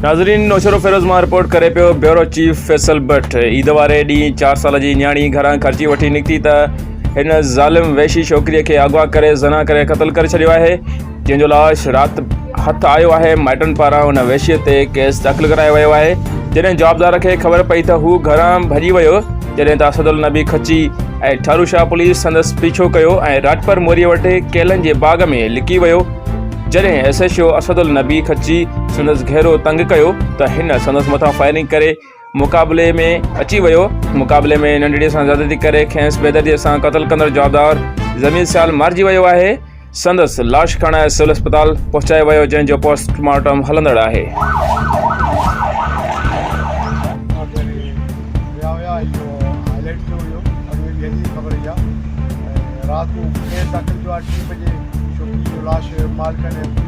ناظرين نوشهروفيروز مان رپورٽ ڪري پيو bureau chief Faisal but Eid واري ڏينهن چار سال جي نياڻي گهران خرچي وٺي نڪتي ته هن ظالم وحشي ڇوڪري کي اغوا ڪري زنا ڪري قتل ڪري ڇڏيو آهي جنهن جو لاش رات هٿ آيو آهي، مائٽن پاران ان وحشي تي ڪيس داخل ڪرايو ويو آهي، جڏهن جوابدار کي خبر پئي ته هو گهران ڀڄي ويو، جڏهن ته اسدالنبي کچي ۽ ٺاروشاهه پوليس سندس پيڇو ڪيو ۽ راڄپر موريء وٽ ڪيلن جي باغ ۾ لڪي ويو، جڏهن S H O Asadulnabi Kachhi سندس گهيرو تنگ ڪيو ته هن سندس مٿان فائرنگ ڪري مقابلي ۾ اچي ويو. مقابلي ۾ ننڍڙي سان زيادتي ڪري کينس بيدرديء سان قتل ڪندڙ جوابدار زميل سيال مارجي ويو آهي. سندس لاش کڻائي سول اسپتال پهچايو ويو جنهن جو پوسٽ مارٽم هلندڙ آهي.